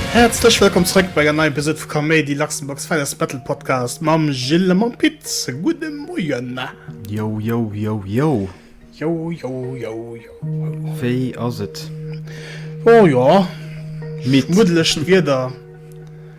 Häerzlech wëllkomm zrëck bei enger neier Episod vu Kaméidi, Luxembourg's Finest Battle Podcast mam Gilles a mam Pit. Gudde Moien! Yo, yo, yo, yo. Yo, yo, yo, yo. Wéi ass et? Oh jo, Midd. schmuddelechen Wieder.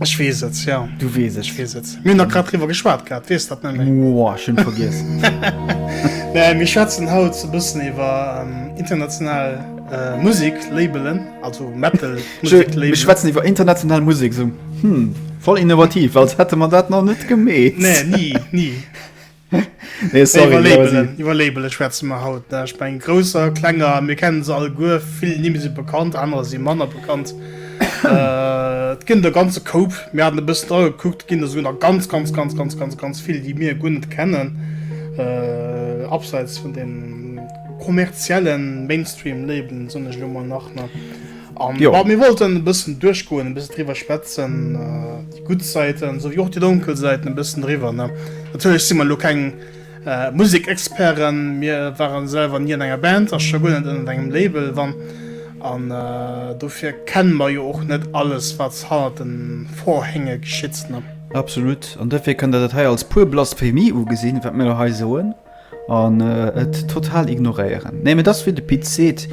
Ech weess et, jo. Du weess et. Ech weess et. Mir hunn da grad driwwer geschwat gehat, weess dat net méi. Woah, ech hunn et vergiess. Nee, mir schwätzen haut e bëssen iwwer international Musek-Labelen, also Metal-Musek-Labelen. Mir schwätzen iwwer international Musek, esou, hm, voll innovativ, als hätte mer dat nach net gemeet. Nee, ni, ni. nee, sorry, nee, Labelen, iwwer Label schwätzen mer haut ne? ich mein großer klenger mir kennen se all guer vill ni se bekannt andere sie manner bekannt äh, ginn der ganze Koup mir hat bis da geguckt ginn der so nach ganz ganz ganz ganz ganz ganz viel die mir gun net kennen äh, abseits von den kommerziellen mainstream leben so nach nach Um, jo. Mir wollten e bëssen duerchgoen, e bëssen driwwer schwätzen, äh, die gut Seiten, so wie och die dunkel Seiten e bëssen driwwer. Ne? Natürlich si man lo keng äh, Musikexperten, mir waren selber nie an enger Band, as schon net an engem Label wann an äh, dofir kennen man jo och net alles wat hannert den Vorhänge geschitt. Ne? Absolut, an dofir kënnt der dat hei als puer blass Femie ugesinn, wat mir hei soen. An et total ignoréieren. Nee, mee et ass wéi de Pit seet,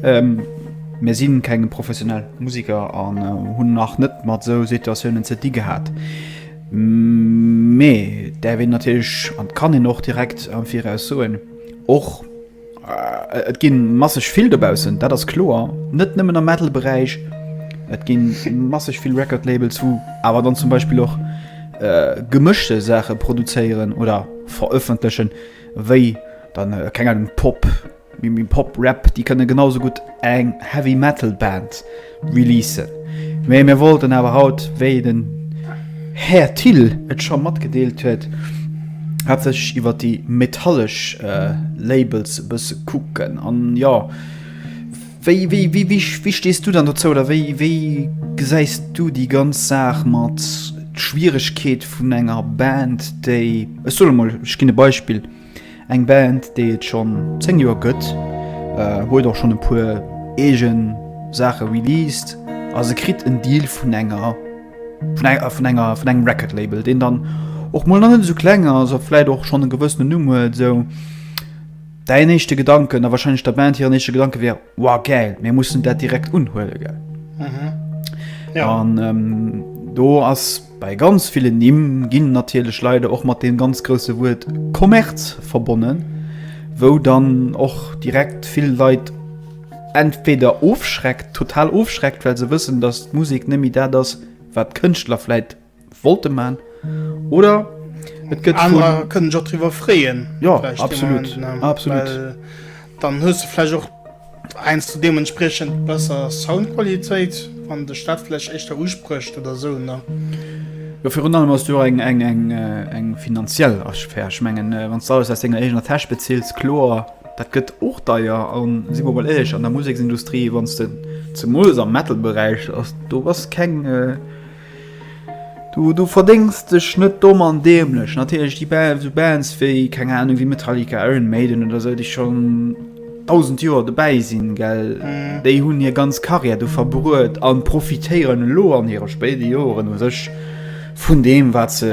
mir si keng professionell Musiker an hunn nach net mat esou Situatiounen ze di gehat. Mee et däerf een natierlech an et kann een och direkt am Viraus soen, och, Et ginn masseg vill dobaussen, dat ass kloer, net nëmmen am Metal-Beräich. Et ginn masseg vill Record-Labels, wou awer dann zum Beispill och äh, gemëschte Saache produzéieren oder verëffentlechen, wéi dann äh, keng Ahnung, Pop, Pop-Rap, déi kënne genauso gutt eng Heavy-Metal-Band Releasen. Mee mir wollten awer haut, wéi den Här Thill et scho matgedeelt huet, haaptsächlech iwwer déi metallesch Labels e bësse kucken. An jo, wéi, wéi, wéi, wéi, wéi stees du dann dozou oder wéi, wéi gesäis du déi ganz Saach mat Schwieregkeet vun enger Band, déi, ech soen emol, ech ginn e Beispill, Eng Band déi et schonn 10 Joer gëtt, huet och schonn e puer eegen Saache released a se kritt en Deal vun enger, vun enger, vun enger, vun engem Record Label deen dann och mol nach net esou kleng ass a vläit och schonn e gewëssenen Numm huet. Esou däin éischte Gedanken, a wahrscheinlech der Band hiren éische Gedanke wär, Wow gäil, mir mussen dat direkt unhuelen, gell? An do ass. Bei ganz villen Nimm ginn natierlech leider och mat deem ganz grousse Wuert Kommerz verbonnen, wou dann och direkt vill Leit entweder ofschreckt, total ofschreckt, well se wëssen, dass d'Musek net méi dat ass, wat d'Kënschtler vläit wollte maachen, oder et gëtt vun. Anerer kënnen sech och driwwer freeën, vläicht deen Moment, well dann hues de vläicht och. Heiansdo hu deementspriechend besser Soundqualitéit, wann dech dat vläicht éischter usprécht oder esou, ne? Jo, virun allem ass do och eng finanziell Asphär. Ech mengen, wann s de alles aus denger eegener Täsch bezills, kloer, dat gëtt och deier. A si mer mol éierlech, an der Museksindustrie, wann s de zemools am Metal-Beräich ass, do bass keng, Du verdéngs dech net domm an däemlech. Natierlech déi esou Bands wéi, keng Anung, wéi Metallica, Iron Maiden oder esou, déi schonn dausend Joer dobäi sinn, well déi hunn hir ganz Karriär do verbruet a profitéieren elo an hire spéide Joren u sech vun deem, wat se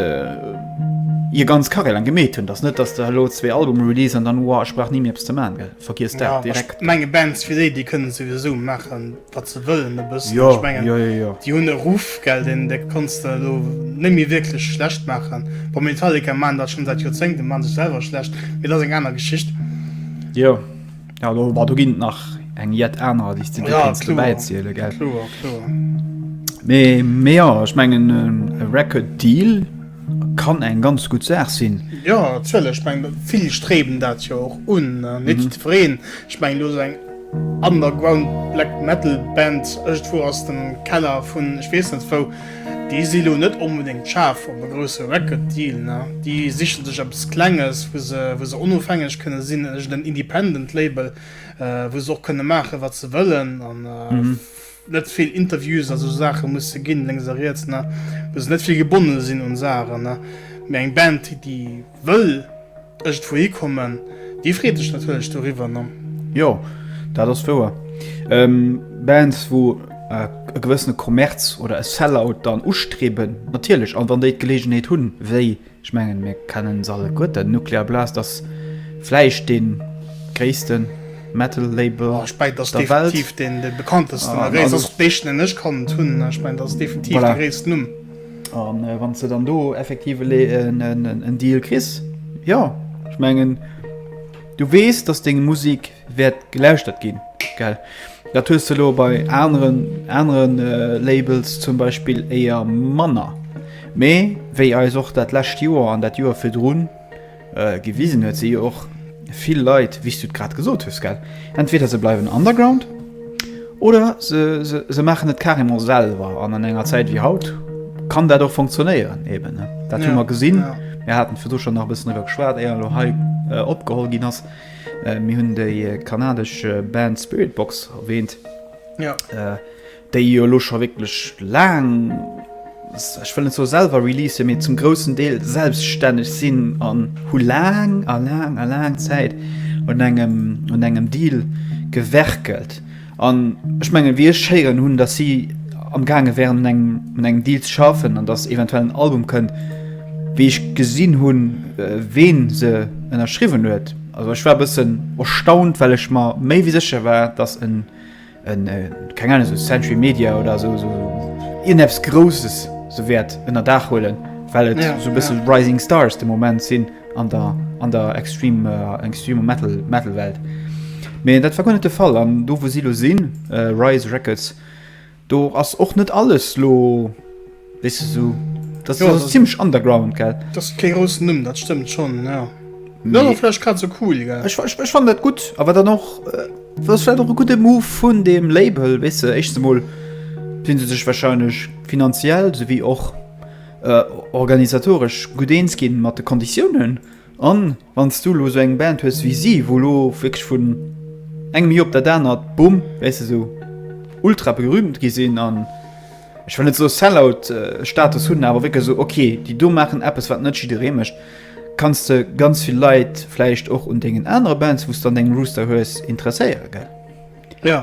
hir ganz Karriär laang gemeet hunn. Et ass net, datt de elo zwee Albume release an dann, Uah, ech brauch ni méi eppes ze maachen. Vergiess dat direkt. Ech menge Bands wéi déi, déi kënnen et souwisou maachen. wat se wëllen e bëssen. Jo, jo, jo, jo. Déi hunn e Ruff, gell, deen, dee kanns de elo net méi wierklech schlecht maachen. Bon, Metallica maachen dat schonn säit Joerzéngten, maache sech selwer schlecht, mee dat ass eng aner Geschicht. Jo, jo, do, bah, do ginn nach eng jett aner, déi s de dir Ja, kéints kloer, dobäiziele, gell. kloer, kloer. Mee, mee jo, ech mengen, e Record Deal kann eng ganz gutt Saach sinn. Jo, natierlech, ech mengen, vill streben dat jo och un, ne? Net jiddwereen. Ech mengen, elo esou eng. Underground Black Metal Band ëgdwou aus dem Keller vun ech wees net wou. Déi si lo net onbedéngt schaarf op e grousse Record Deal, na déi sichen sech eppes klenges wou se wou se onofhängeg kënne sinn, ëgden Independent Label wou se och kënne maachen wat se wëllen an net vill Interviews a sou Saache musse ginn, lénks a riets, ne, muss net vill gebonne sinn un Saachen, ne, mee eng Band, déi wëll iergendwouhi kommen, déi freet sech natierlech doriwwer, ne. Jo, dat ass wouer. Bands, wou e gewëssene Kommerz oder e Sell-Out dann ustriewen, natierlech, a wann déi d'Geleegenheet hunn, wéi Ech mengen mir kennen se alleguer, den Nuclear Blast ass vläicht dee gréissten Metal Label der Welt, voilà, a wann s de dann do effektiv en Deal kriss, jo, ech mengen du weess dass deng Musik. Wäert gelauschtert ginn, gell? Dat hues de elo bei aneren aneren Labels zum Beispill éier manner. Mee wéi eis och dat lescht Joer an dat Joer virdrun gewisen huet, si jo och vill Leit, wéi s du et grad gesot hues, gell? Entweder se bleiwen underground oder se se se maachen et carrément selwer. An an enger Zäit wéi haut kann dat och funktionéieren eben, ne? Dat hu mer gesinn. Mir haten virdu scho nach e bëssen driwwer geschwat, éier elo hei opgeholl ginn ass. Mir hunn déi kanadesch Band Spiritbox erwähnt, ja. äh, déi jo lo scho wécklech laang ech wëllen zo selwer release mir zum großen Deel selbststänneg sinn an hu laang a laang a laang Zäit un engem un engem Deal gewerkelt. An ech mengen, wéi ech héieren hunn, datt si am gaange wären un engem, un engem Deal ze schaffen an datt eventuell en Album kënnt, wéi ech gesinn hunn, ween se ënnerschriwwen huet, also ech war e bëssen erstaunt, well ech mer méi wéi sécher war, datt en, en, keng Ahnung, esou Century Media oder esou, esou ierneps Grousses se wäert ënner Daach huelen, well et esou e bësse Rising Stars de Moment sinn. an der an der extrem äh, extreme metal metal welt mee dat war gar net de fall an do wo si lo sinn äh, rise records do ass och net alles lo wis so das ja, ist das ziemlich underground gell das ke großen numm dat stimmt schon ja Ja, nee. vielleicht grad so cool ja. ich, ich, ich fand dat gut aber dann noch äh, was war doch e gute move vun dem label wisse weißt du, echt mal sinn se sech wahrscheinlich finanziell sowie och organisatoresch gutt eens ginn mat de Konditiounen an wann s du elo esou eng Band hues wéi si, wou elo wierklech vun engem Joer op dat anert, bumm, wéi se esou ultra berühmt gi sinn an, ech wëll net soe Sellout-Status hunn, awer wierklech esou, ok, déi do maachen eppes, wat net jidderee mécht, kanns de ganz vill Leit vläicht och un dengen anere Bands, wou s dann deng Rooster hues, interesséieren, gell? Jo.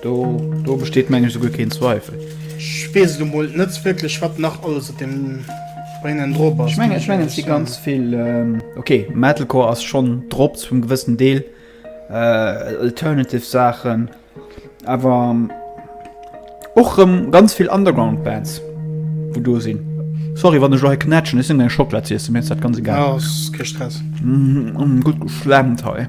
Do, do besteet mengen ech souguer keen Zweifel. Ech weess et emol net wierklech, wat nach alles op deem Brainen drop ass. Ech mengen, ech mengen et si ganz vill, okay, Metalcore ass schonn drop zu engem gewëssen Deel, alternative Saachen, awer och erëm ganz vill Underground Bands, wou do sinn. Sorry, wann ech elo hei knätschen, ech sinn eng Schocklad z'iessen, mir ass dat ganz egal. Ass kee Stress. Gutt geschlemmt hei.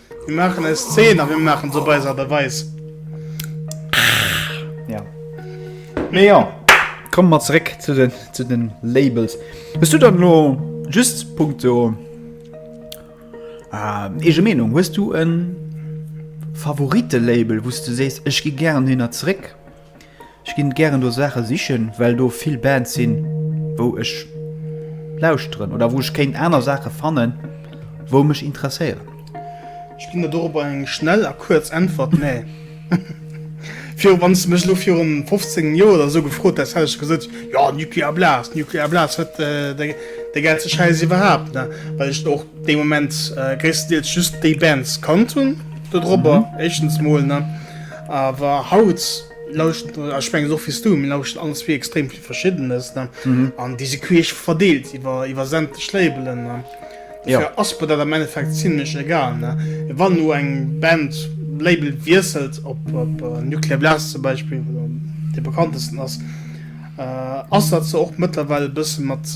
Mir maachen eis Zeen a mir maachen se op eis Aart a Weis. Ja. Mee jo, komme mer zeréck zu den, zu den Labels. Hues du dann elo just punkto ähm, eege Meenung, hues du en Favorite-Label, wou s du sees, ech gi gären hinner zeréck? Ech ginn gären do Saachen sichen well do vill Bands sinn wou ech lauschteren oder wou ech kéint aner Saachen fannen wou mech interesséieren. Ech ginn der dorobber eng schnell a kuerz Äntwert, nee. Virun, wann s de mech elo virun 15 Joer oder esou gefrot häss, hätt ech gesot, jo Nuclear Blast, Nuclear Blast huet de gäilste Schäiss iwwerhaapt, ne, well ech och dee Moment gréisstendeels just déi Bands kannt hunn do drobber, éischtens mol, ne. Awer haut lauschteren, ech mengen och wéis du, mir lauschteren all zwee extrem vill Verschiddenes ne an déi si queesch verdeelt iwwer iwwer sämtlech Labelen ne. Dofir ass mer dat am Endeffekt zimlech egal ne. Wann elo eng Band Label wiesselt, op op Nuclear Blast zum Beispill, wat dann dee bekanntesten ass, ass dat se och mëttlerweil e bësse mat.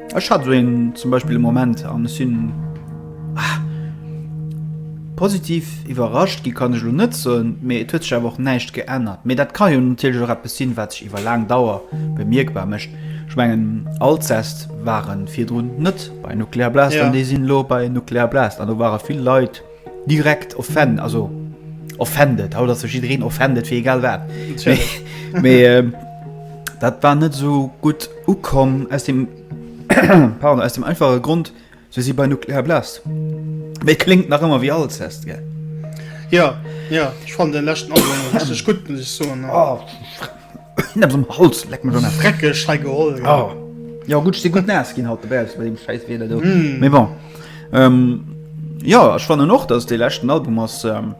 Ech hat esou een zum Beispill e Moment an ech sinn positiv iwwerrascht gi kann ech elo net soen, mee et huet sech awer och näischt geännert. Mee dat ka jo natierlech och eppes sinn, wat sech iwwer laang Dauer bemierkbar mécht. Ech mengen Alcest ware virdrun net bei Nuclear Blast an déi sinn elo bei Nuclear Blast an do ware vill Leit, Direkt offend, also offended, haut ass jo jiddereen offended fir egal wat. Mee ähm, dat war net esou gutt ukomm aus dem pardon, aus dem einfache Grund, se si bei Nuclear Blast. Mee kléngt nach ëmmer wéi Alcest, gell? Ja, ja, ech fand den leschten Album och richteg gutt, muss ech soen. Holz leck mir dreckeg he geholl oh. Ja gut se gut nas gin haut de Bels dem scheiß wieder do mm. Me bon ähm, Ja ech fanne noch dats de lächten Album ass ähm,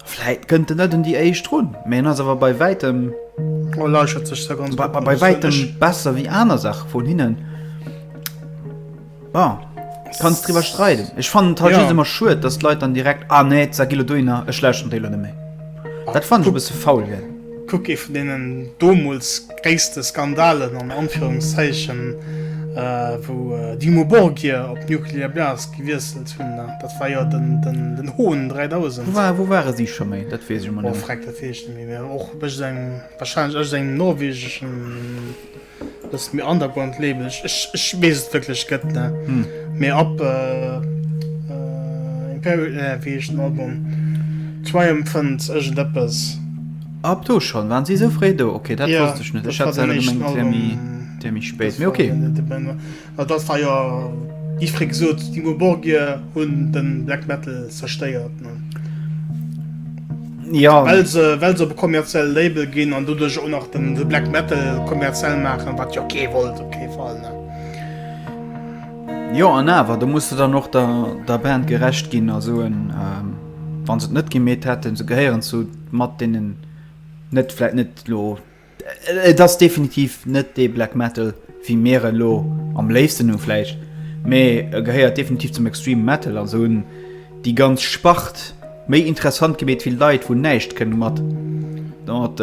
Fläit gënnt de net un déi eich run Mä ass awer bei wäitem oh, sech bei, bei wäitem besser wéi aner Sach vun hinnen. Ja, kanns driwwer streiden. Ech fannen d'Hall just ëmmer schued, datt d'Leit dann direkt, ah nee, d'Sar Gillo dohin, ech lauschteren déi elo net méi. Dat fannen ech e bësse faul wär. Kuck ee vun deenen domols gréisste Skandalen an Anführungszeichen, wou Dimmu Borgir op Nuclear Blast gewiesselt hunn, dat war jo den Hohn 3000. Wou ware si scho méi? Dat weess ech ëmmer net méi. Oh, freck, dat weess ech net méi. Mee och, wahrscheinlech, ëscht engem norwegeschen. Dass et mir underground label ech ech wees et wierklech gëtt ne mee ab imperial ne wéi heescht den album triumphant iergend eppes Ab do schonn waren si esou fréi do? Ok dat wosst ech net ech hat se awer gemengt et wär méi spéit mee ok. Et ass da jo gi fréi gesot, Dimmu Borgir hunn de Black Metal zerstéiert, well se op e kommerzielle Label ginn an doduerch och nach de Black Metal kommerziell maachen, wat jo kee wollt op kee Fall. Jo an awer, do muss se dann och der Band gerecht ginn a soen, wa se et net gemeet hätten, se gehéieren zu mat deenen net vläit net elo Et ass definitiv net dee Black Metal wéi mir en elo am léifsten hunn vläicht, mee e gehéiert definitiv zum Extreme Metal an esou hunn déi ganz Spart méi interessant gemeet wéi Leit wou näischt kënne mat mat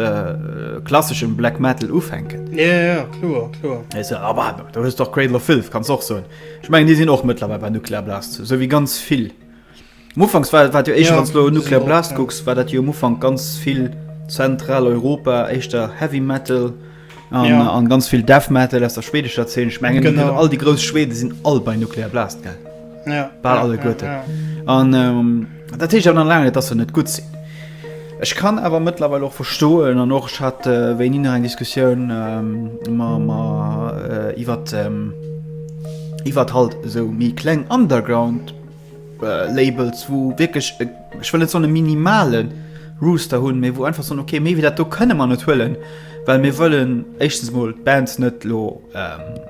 klasseschem Black Metal ufänken. Awer do hues de och Cradle of Filth, kanns de och soen. Ech mengen déi sinn och mëttlerweil bei Nuclear Blast, esou wéi ganz vill. Am Ufank war dat jo éischter, wann s de elo Nuclear Blast kucks, war dat jo am Ufank ganz vill Zentraleuropa, éischter Heavy Metal an ganz vill Death Metal aus der schweedescher Zeen. Ech mengen all déi grouss Schweden sinn all bei Nuclear Blast gell? Bal alleguerte. An dat heescht awer nach laang net, dass se net gutt sinn. Ech kann awer mëttlerweil och verstoen an och ech hat wéini nach eng Diskussioun iwwert iwwert halt esou méi kleng Underground. Labels wou wierklech e, ech wëll net soen e minimalen Rooster hunn, mee wou einfach soen, okay méi wéi dat do kënne mer net huelen, well mir wëllen éischtens mol d'Bands net elo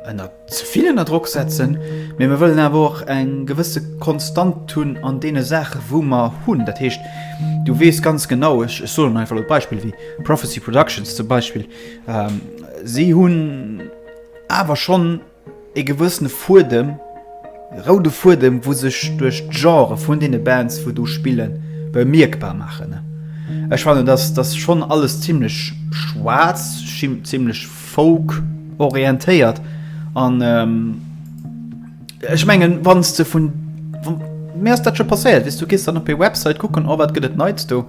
ënner ze vill ënner Drock setzen, mee mer wëllen awer och eng gewësse Konstant hunn an deene Saache wou mer hunn. Dat heescht, du weess ganz genau, ech soen einfach elo Beispill wéi Prophecy Productions zum Beispill, si hunn awer schonn, ee gewëssene Fuedem, roude Fuedem, wou sech duerch d'Genrë vun deene Bands, wou do spillen, bemierkbar maachen. Ech fannen, dass dass schonn alles zimmlech schwaarz, zimmlech Folk orientéiert an ech mengen, wann s de vun, mir ass dat scho passéiert, wéi s du gees dann op hir Website kucken, oh wat gëtt et Neits do,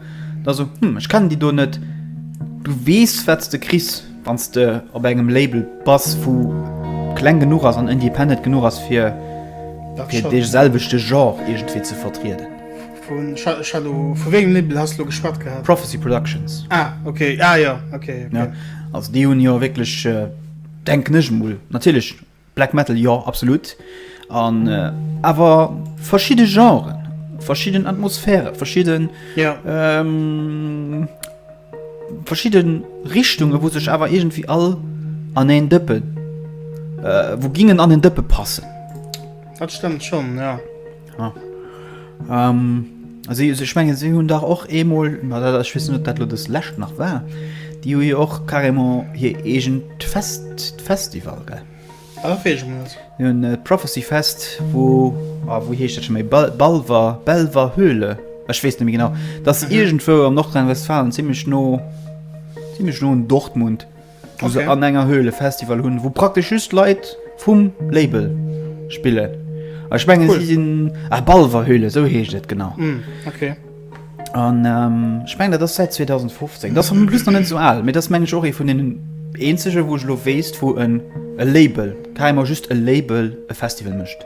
da so, hm, ech kennen déi do net, du weess wat s de kriss. Wann s de op engem Label bass, wou kleng genuch ass an independent genuch ass, fir dee selwechte Genre iergendwéi ze vertrieden. Vu wéi engem Label has de elo geschwat gehat? Prophecy Productions. Ah, ok. Ah, jo, ok. Also, déi hunn jo wierklech, denken ech emol, natierlech Black Metal jo absolut an awer verschidde Genren, verschidden Atmosphäre, verschidden ja. ähm, verschidden Richtungen, wo sech awer irgendwie all an en Dëppen äh, wo gingen an den Dëppe passen. Dat stimmt schon ja. Ja. Ähm, also ich meine, sie haben doch auch einmal, ich weiß nicht, ob das das letzte noch war, die haben ja auch carrément hier irgend Fest, Festival, gell? Auch irgendwas. Die haben äh, Prophecy Fest, wo, oh, wo heißt das schon mal? Bal Balver, Belver Höhle. Ich weiß nicht mehr genau. Das ist mhm. irgendwo am Nordrhein-Westfalen, ziemlich no, ziemlich no in Dortmund. wou se an enger Höhle Festival hunn, wou praktesch just Leit vum Label spillen. A ech menge si sinn, ah Balver Höhle, esou heescht et genau. An ech meng dat ass säit 2015, dat ass en plus nach net esou al, mee dat ass meng ech och ee vun deenen eenzege wou ech elo weess, wou e Label, carrément just e Label e Festival mécht.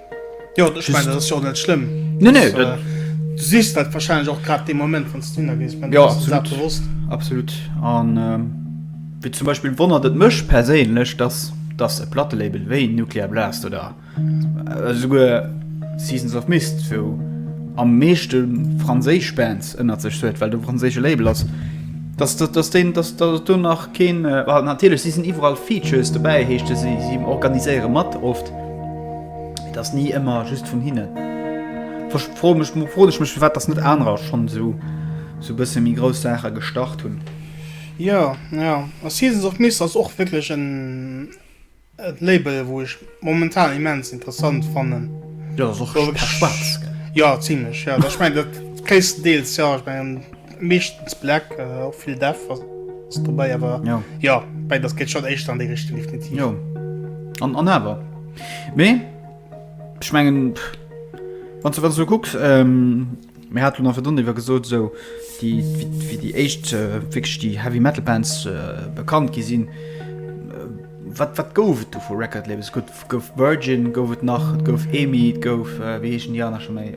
Jo, ich mein, das ist schon nicht schlimm. Nee, nee, das, äh, du siehst das wahrscheinlich auch gerade den Moment, wenn du da gehst. Ja, absolut. Bewusst. Absolut. Und ähm, wie zum Beispiel wundert es mich persönlich, dass, dass ein Plattenlabel wie Nuclear Blast oder äh, sogar Seasons of Mist, wo am meisten französische Bands unter sich sind, weil du ein französisches Label hast, dass, dass, dass, den, dass, dass du nach kein. Äh, natürlich, sie sind überall Features dabei, heißt es, sie, sie organisieren mit oft. Et ass ni ëmmer just vun hinnen. Versch- Froe mech, froe ech mech, firwat dass net anerer schonn esou esou bësse méi grouss Saache gestart hunn. Jo, jo, a Seasons of Mist ass och wierklech en e Label, wou ech momentan immens interessant fannen. Jo, ass och War wierklech- schwaarz, gell? Jo, zimlech, jo. Ech meng, dat gréisstendeels, jo. Ech mengen. Meeschtens black, och vill Def ass dobäi, awer jo, mäin ass geet schonn éischter an déi Richtung definitiv. Jo, an an awer. Mee ech mengen, wann s de wat esou kucks, mir haten awer dann ewwer gesot, esou déi wéi déi éischt wierklech déi Heavy Metal Bands bekannt gi sinn, wat wat gouf et do vu Record Labels? Et gouf Virgin, gouf et nach, et gouf EMI, et gouf wéi heeschen déi aner scho méi?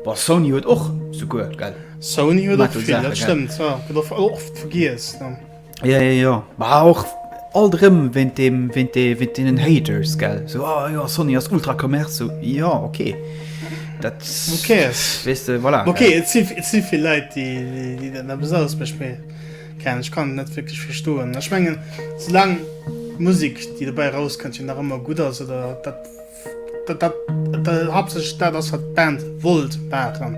Bon, Sony huet och souguer, gell? Sony huet och vill, dat stëmmt, jo. Gëtt och oft vergiess, ne? Jo, jo, jo. Mä och alt erëm wéint deem, wéint dee, wéint deenen Haters, gell? Sou, oh jo, Sony ass ultra Commerce, sou, jo, ok. Dat. Who cares? Weess de, voilà. Ok, et si, et si vill Leit, déi, déi, déi dat eppes anescht mécht, mee, keng Ahnung, ech kann et net wierklech verstoen. Ech mengen, soulaang d'Musek, déi dobäi erauskënnt, jo nach ëmmer gutt ass, oder dat. hab sech dat ass wat Band wollt machen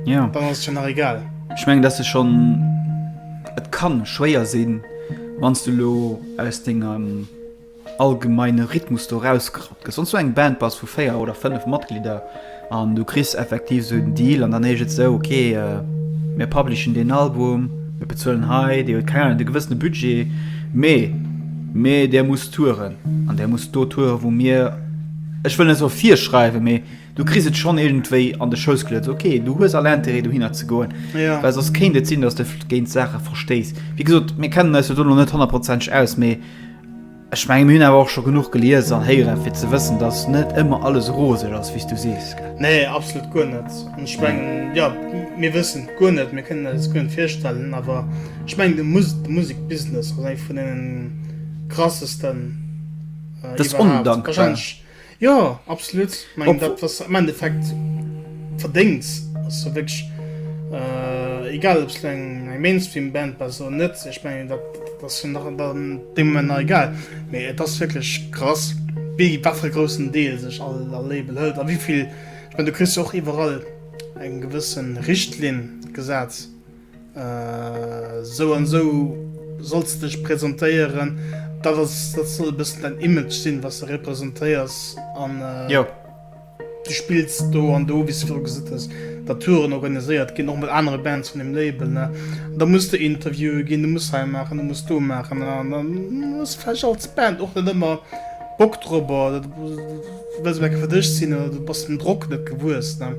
ja dann ass schon nach egal ich meng dass du schon et kann schwéier sinn wanns du lo aus dinger ähm, allgemeine Rhythmus do rauskrapp sonst so eng Band bass vu 4 oder 5 Matglieder An du kriss effektiv esou den Deal an dann heescht et esou, ok, mir publishen deen Album, mir bezuelen hei, dee huet, keng Ahnung, de gewëssene Budget, mee, mee där muss touren an där muss do touren, wou mir, ech wëll net soe virschreiwen, mee du kriss et schonn iergendwéi an de Schouss geluet, okay, du hues all Intérêt dohinner ze goen, well soss kéint et sinn, dass de géint d'Saache verstéiss. Wéi gesot, mir kennen eis jo do nach net honnertprozenteg aus, mee. Ech mengen mir hunn awer och scho genuch gelies an héieren fir ze wëssen dass net ëmmer alles roseg ass wéi s du sees, gell? Nee, absolut guer net. An ech mengen, jo, mir wëssen et guer net, mir kënnen eis et guer net virstellen, awer ech mengen de Musikbusiness ass eng vun deenen krassesten iwwerhaapt, wahrscheinlech. Jo, absolut. Ech mengen, dat, wat se am Endeffekt verdéngt, ass jo wierklech egal, ob se elo eng Mainstream-Band bass oder net. Ech mengen, dat ass jo nach an deem Moment nach egal. Mee et ass wierklech krass, wéi wat fir e groussen Deel sech all Label hëlt a wéi vill. Ech mengen, du kriss jo och iwwerall eng gewësse Richtlinn gesat. Sou an esou solls de dech presentéieren. Dat ass, dat soll e bëssen dein Image sinn, wat s de representéiers. An du spills do an do, wéi s de virun gesot hues, datt Touren organiséiert ginn, och mat anere Bands vun deem Label. Ne? Da muss de Interviewe ginn, du muss hei maachen, du muss do maachen. An dann hues du vläicht als Band och net ëmmer Bock drop. Wëlls Mac fir dech sinn oder du bass dem Drock net gewuess, ne?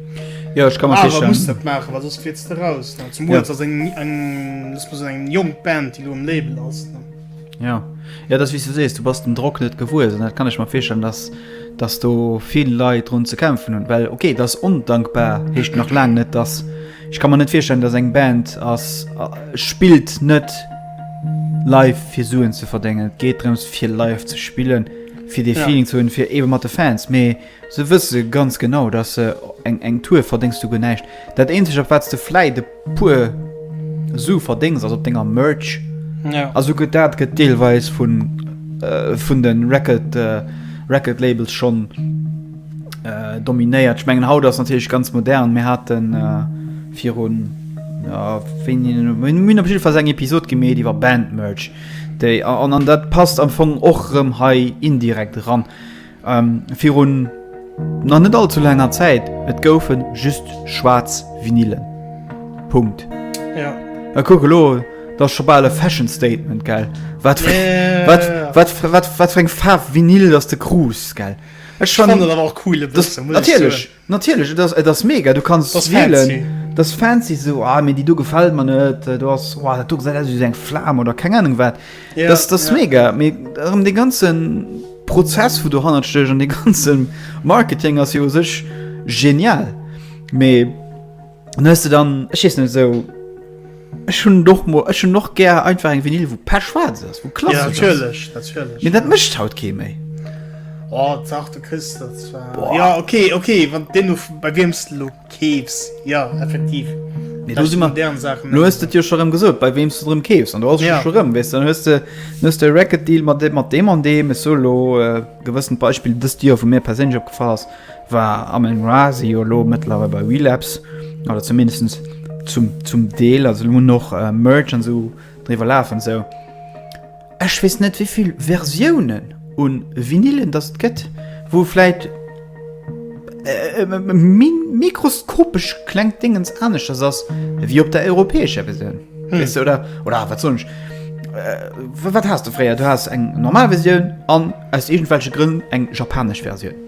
Jo, ech ka mer virstellen. Awer muss dat maachen, well soss fliits de raus, ne? Zum Beispill ass eng, eng, lass mol soen, eng jonk Band, déi elo am Label ass, ne? Ja. Ja, dat ass wéi s du sees, du bass dem Drock net gewuess an dat kann ech mer virstellen, datt, datt do vill Leit drun ze kämpfen hunn, well okay, et ass ondankbar, heescht nach laang net, datt, ech ka mer net virstellen, datt eng Band ass, spillt net live fir Suen ze verdéngen. Et geet drëms fir live ze spillen. fir dee Feeling ze hunn, fir eebe mat de Fans, mee se wësse ganz genau, datt se eng eng Tour verdéngs, du guer näischt. Dat eenzegt, op wat s de vläit e puer Su verdéngs, ass op denger Merch. A souguer dat gëtt deelweis vun vun de Record Record Labels schonn dominéiert. Ech mengen haut ass natierlech ganz modern. Mir hate virun, jo wéini, mir hunn op jidde Fall eng Episod gemeet iwwer Band Merch. Déi, an, an dat passt am Fong och rëm hei indirekt eran, virun nach net allzu laanger Zäit, et goufe just schwaarz Vinylen. Punkt. Jo. A kuck elo, dat ass scho bal e Fashion Statement, gell, wat fir, wat, wat, wat, wat fir eng Faarf Vinyl dass de krus, gell. Ech fanne. Ech fanne dat awer och cool, e bëssen, muss ech soen. Natierlech! Natierlech, et ass, et ass mega, du kanns Ass wielen. fancy. Et ass fancy esou, ah mee déi do gefält mer net, äh, do ass, oh dat do gesäit aus wéi esou eng Flam oder keng Anung wat. Ja, dat ass, dat ass ja. mega, mee erëm dee ganze Prozess wou dohannert stécht an dee ganze Marketing ass jo u sech genial, mee. An hues de dann, ech weess net, esou, ech hunn et och mol, ech hunn och gär einfach eng Vinyl, wou d'Page schwaarz ass, wou klassesch ass. Ja, natierlech, natierlech. Mee dat mécht haut kee méi. Oh, dach, du kriss dat zwar. Boah. Ja, okay, okay, wann den du, bei wiem s du lo keefs, jo, effektiv. Mee do si mer, deren Saachen. Lo hues de et jo scho rëm gesot, bei wiem s du rëm keefs. An do ass ja. scho rëm, weess du, dann hues de, dann hues de e Record Deal mat deem, mat deem an deem, esou lo e gewëssent Beispill dëst Joer, wou mir perséinlech opgefall ass. War Amin Ra, si jo elo mëttlerweil bei Relapse, oder zumindest zum, zum Deel, also elo hunn och Merge an esou driwwer lafen an esou. Ech weess net wéivill Versiounen un Vinylen datt et gëtt, wou vläit e mikroskopesch klengt Déngens aneschters ass ewéi op der europäescher Versioun, weess de, oder, oder wat soen ech, wat has de fréier, du has eng normal Versioun an aus iergendwelche Grënn eng japanesch Versioun.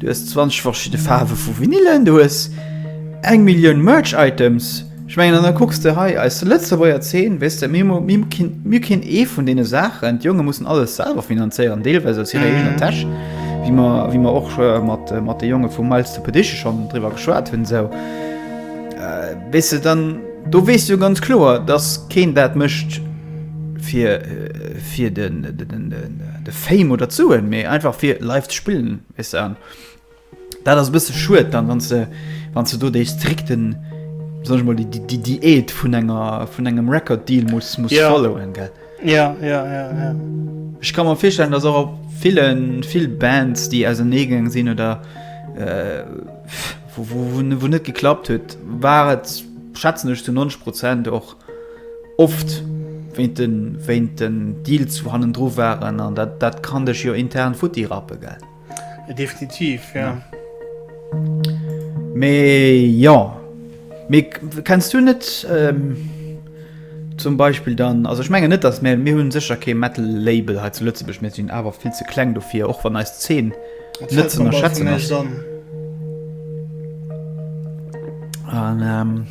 Du hues 20 verschidde Faarwe vu Vinylen, du hues eng Millioun Merch-Items. Ech mengen, an da kucks de hei eis Lëtzebuerger Zeen, weess de, mir hu keen ee vun deene Saachen. D'Jonge mussen alles selwer finanzéieren, deelweis aus hirer eegener Täsch, wéi mer och mat de Jonge vu Miles to Perdition schonn driwwer geschwat hunn. Esou, weess de, dann do weess de jo ganz kloer, dass keen dat mécht fir den. de Fame oder d'Suen, mee einfach fir live ze spillen, weess de. An dat ass e bësse schued dann, wann se, wann se do déi strikten, soll ech mol, déi, déi Diät vun enger, vun engem Record-Deal muss, muss ja. followen, gell? Ja, ja, ja, ja. Ech kann mir virstellen, dass och op villen, vill Bands, déi auserneegaangen sinn oder äh, wo, wo, wo, wo net geklappt huet, war et schätzen ech zu 90 Prozent och Oft wéint den Deal zu hannendru waren an dat kann dech jo intern futti rappe gell? Definitiv jo. Mee jo, mee kenns du net zum Beispill dann, also ech mengen net dass mir hunn sécher kee Metal Label hei zu Lëtzebuerg, mir sinn awer vill ze kleng dofir, och wann eis Zeen net ze ënnerschätzen ass.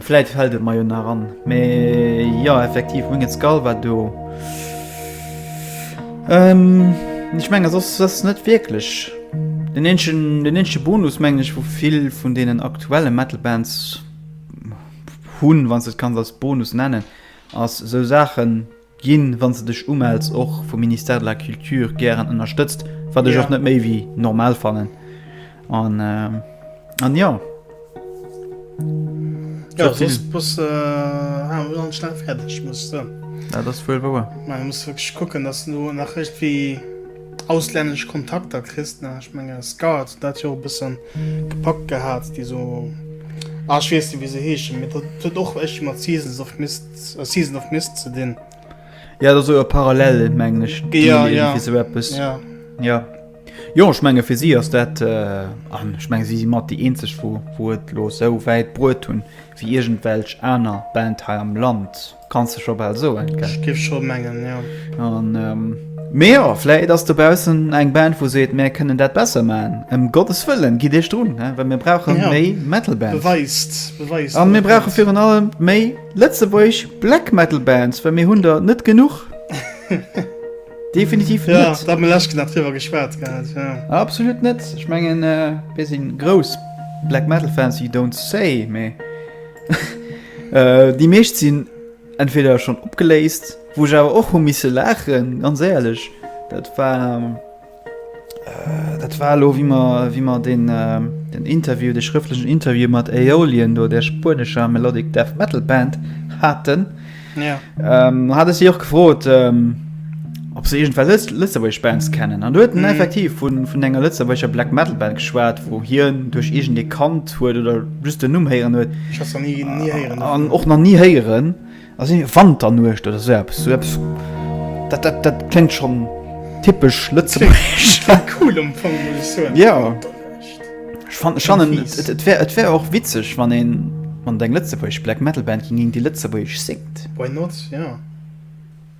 Vläit fällt et mer jo nach an. Mee jo, effektiv, Winged Skull war do. Ähm, ech menge sos ass net wierklech. Den eenschen, den eenschen Bonus mengen ech, wou vill vun deenen aktuelle Metal Bands hunn, wann s de et kanns als Bonus nennen, ass esou Saachen, Ginn, wann s de dech umells, och vum Ministère de la Culture gären ënnerstëtzt, wat ech och net méi wéi normal fannen an an jo. Jo soss bass de awer ganz schnell fäerdeg muss ech soen. Dat ass wuel wouer. Mä muss wierklech kucken, dass de do nach iergendwéi auslännesch Kontakter kriss nach. Ech menge Scout hunn dat jo e bësse gepackt gehat, déi esou, ah ech weess net wéi se heeschen, mee dat huet och iergendwéi mat Seasons of Mist. A Season of Mist ze dinn. Ja dat e parallel mengen ech ja, ja. So etwas. ja. ja. Jo ech menge fir si ass dat äh, an ech meng si si mat déi eenzeg wo wo et lo sou wäit bruet hunn wéi irgend welch aner Band hei am Land. Kanns de scho bal soen. Ech géif scho mengen, ja. An ähm, Mee jo, vläit ass dobaussen eng Band wou seet mär kënnen dat besser maachen. Em Gottes Wëllen, gitt iech drun, well mir brauche méi Metal Bands. A mir brauche virun allem méi lëtzebuergesch Black Metal Bands, well mir hunn der net genuch. Definitiv net. Da hu mir lech nach driwwer geschwat gehat. Absolut net. Ech mengen mir sinn grouss Black Metal Fans, you don't say, mee déi meescht sinn. Entweder schon opgeléist, wou ech awer och hu misse laachen, ganz éierlech. Dat war, äh, dat war elo, wéi mer, wéi mer deen, äh, den Interview, dee schrëftlechen Interview mat Aeolian, do där spuenescher Melodic Death Metal Band haten. Ja. Ähm, hate si och gefrot, ähm, ob se iergendwell lëtzebuergesch Bands kennen an do huet en effektiv vun vun enger lëtzebuerger Black Metal Band geschwat, wou hien duerch iergend ee kannt huet oder just den Numm héieren huet Ech has der ni ni héieren an dovun. och nach ni héieren a sinn Wanternuecht oder sou eppes sou eppes dat dat dat kléngt schonn typesch lëtzebuergesch. Klingt cool am Fong muss ech soen. Jo. Wanternuecht. Ech fan ech fannen Klingt fies. et et wär et wär och witzeg wann een wann et eng lëtzebuergesch Black Metal Band ginn déi lëtzebuergesch séngt. Why not, jo.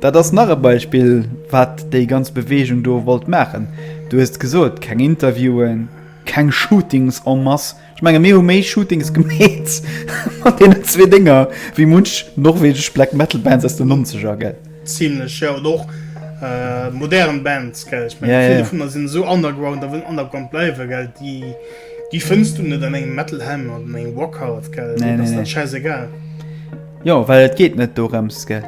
Dat ass nach e Beispill, wat déi ganz Beweegung do wollt maachen. Du hues et gesot, keng Interviewen, keng Shootings en masse. Ech menge mir hu méi Shootings gemeet mat deenen zwee Dénger wéi munch norwegesch Black Metal Bands aus den Nonzeger, gell? Zimlech, jo. Oder och modern Bands, gell? Ech menge vill dovunner sinn esou underground a wëllen underground bleiwen, gell? Déi déi fënns du net an engem Metal Ham oder an engem Rock Hard, gell? Deenen ass dat schäiss egal. Jo, well et geet net dorëms, gell?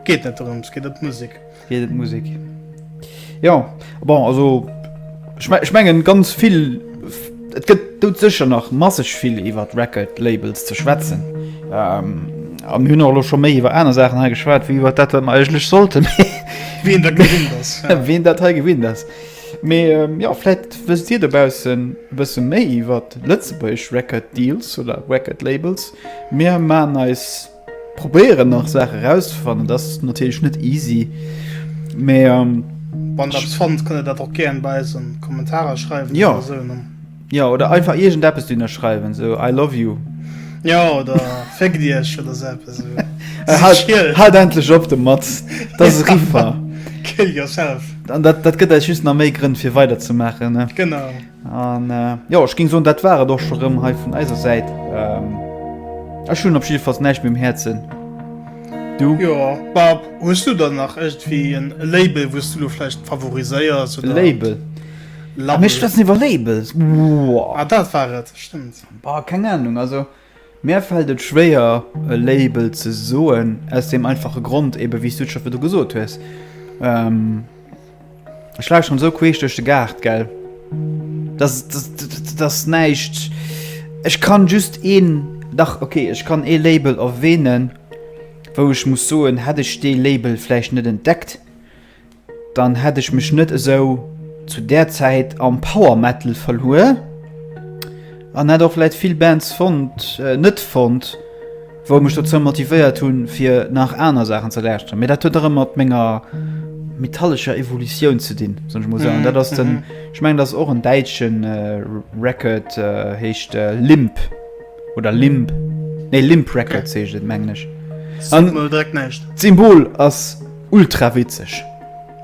Geet net dorëms, geet ëm d'Musek. Geet ëm d'Musek. Jo, bon, also ech mengen ganz vill, et gëtt dout sécher nach masseg vill iwwer d'Record Labels ze schwätzen. A mir hunn och elo scho méi iwwer aner Saachen hei geschwat wéi iwwer dat, wat mer eigentlech sollten. Wien dat gewinnt ass. Wien dat hei gewinnt ass. Mee jo, vläit wësst Dir dobaussen e bësse méi iwwer lëtzebuergesch Record Deals oder Record Labels. Mir maan eis, probéieren nach Saachen erauszefannen, dass natierlech net easy, mee. Wann der eppes fannt kënnt der dat och gären bei eis an Kommentarer schreiwen oder esou ne. Jo oder einfach iergend eppes dunner schreiwen esou I love you. Jo oder Féck Iech oder esou eppes esou. Haalt endlech op domat, dass se riffer. Kill yourself. An dat gëtt eis just nach méi Grënn fir weider ze maachen ne. Genau. An jo ech géing soen, dat war et och scho rëm hei vun eiser Säit. Ech hunn op jiddefalls näischt méi um Häerzen. Du? Jo, ma hues du dann nach iergendwéi en Label, wou s du elo vläicht favoriséiers oder? Label? Label. Mir schwätzen iwwer Labels. Wow. Ah, dat war et, stëmmt. Bah, keng Ahnung, also. Mär fällt et schwéier e Label ze soen, aus deem einfache Grond ebe wéi s du et scho virdru gesot hues, ech lauschteren esou queesch duerch de Gaart, gell, dass, dass näischt, ech kann just een, dach ok, ech kann ee Label erwähnen, wou ech muss soen, hätt ech dee Label vläicht net entdeckt, Dann hätt ech mech net esou zu där Zäit am Power Metal verluer an hätt och vläit vill Bands fonnt, net fonnt, wou mech dozou motivéiert hunn, fir nach aner Saachen ze lauschteren. Mee dat huet och ëmmer mat menger metallescher Evolutioun ze dinn, soen ech mol esou. An dat ass den, ech mengen, dat ass och en däitsche Record, heescht Limp oder Limb, nee Limp Records heescht et, mengen ech. An d'Symbol ass. Ultra witzeg.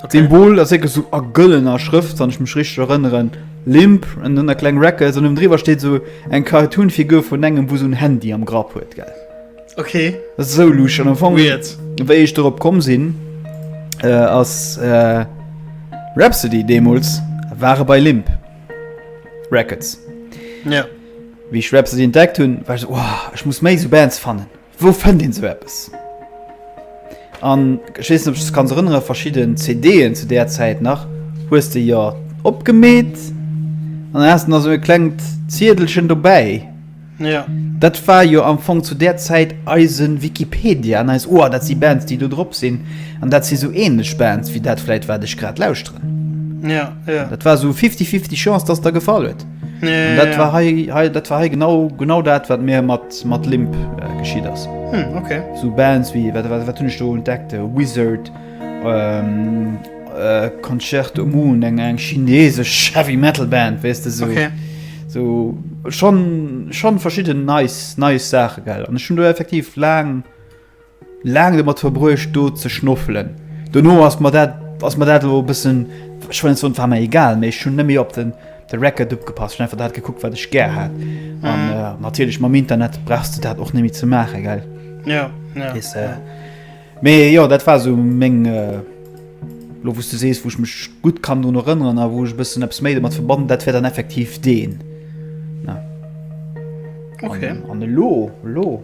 Okay. Symbol ass wierklech sou a gëllener Schrëft, wann ech mech richteg erënneren. Limp an dann der kleng Records an ënnendriwwer steet sou eng Cartoon-Figur vun engem, wou sou en Handy am Grapp huet, gell? Okay. Dat ass esou luscht. An am Fong, Weird. wéi ech dorop komm sinn, äh, ass äh, Rhapsody deemools ware bei Limp Records. Ja. Wéi ech Rhapsody entdeckt hunn, war ech sou, Wow, ech muss méi sou Bands fannen. Wou fënnt een sou eppes? An ech weess net, ob du dech kanns erënneren, verschidden CD'en zu där Zäit nach, hues de jo opgemeet an dann has de nach sou e klengt Ziedelchen dobäi. Ja. Dat war jo am Fong zu där Zäit eise Wikipedia an eis, oh, dat si Bands, déi do drop sinn an dat si sou änlech Bands wéi dat vläit, wat ech grad lauschteren. Ja, ja. Dat war sou fifty-fifty Chance, dass et der gefall huet. An dat war hei, hei, dat war hei genau, genau dat, wat mir mat, mat Limp äh, geschiet ass. Hm, okay. So Bands wie, wat, wat, wat hunn ech do entdeckt? Äh, Wizard, ähm, äh, Concerto Moon, eng, eng chinesesch Heavy Metal Band, weißt du, so. Okay. So, schon, schon verschieden nice, nice Sache, gell. An ech hunn do effektiv lang, Laang domat verbruecht do ze schnoffelen. Dono ass mer dat ass mer dat elo e bëssen, ech well net soen, et war mer egal, mee ech hunn net méi op de de Record opgepasst, ech hunn einfach dat gekuckt, wat ech gär hat. An natierlech mam Internet brauchs de dat och net méi ze maachen, gell? Weess de. Mee jo, dat war esou meng, elo wou s de sees, wou ech mech gutt kann drun erënneren a wou ech e bëssen eppes méi domat verbannen, dat wär dann effektiv deen. An elo, elo?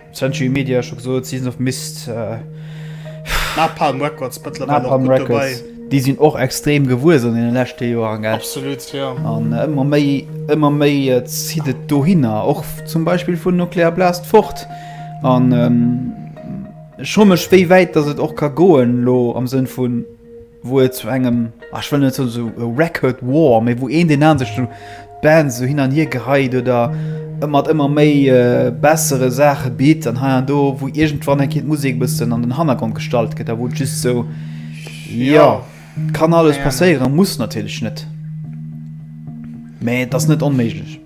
Century Media, scho gesot, Season of Mist, Napalm Records mëttlerweil och gutt dobäi. Déi sinn och extrem gewuess an deene leschte Joren. Absolut, jo. An ëmmer méi, ëmmer méi zitt et dohinner, och zum Beispill vun Nuclear Blast fort. An ech fro mech, wéi wäit datt et och ka goen elo am Sënn vun, wou et zu engem, ah ech wëll net soen esou e Record War, mee wou een deen aneren sech esou d'Bands esou hin an hier geheit oder ëmmer ëmmer méi bessere Saache bitt an hei an do, wou iergendwann eng Kéier d'Musek e bëssen an den Hannergrond gestallt gëtt a wou et just esou, jo, kann alles passéieren, muss natierlech net, mee et ass net onméiglech.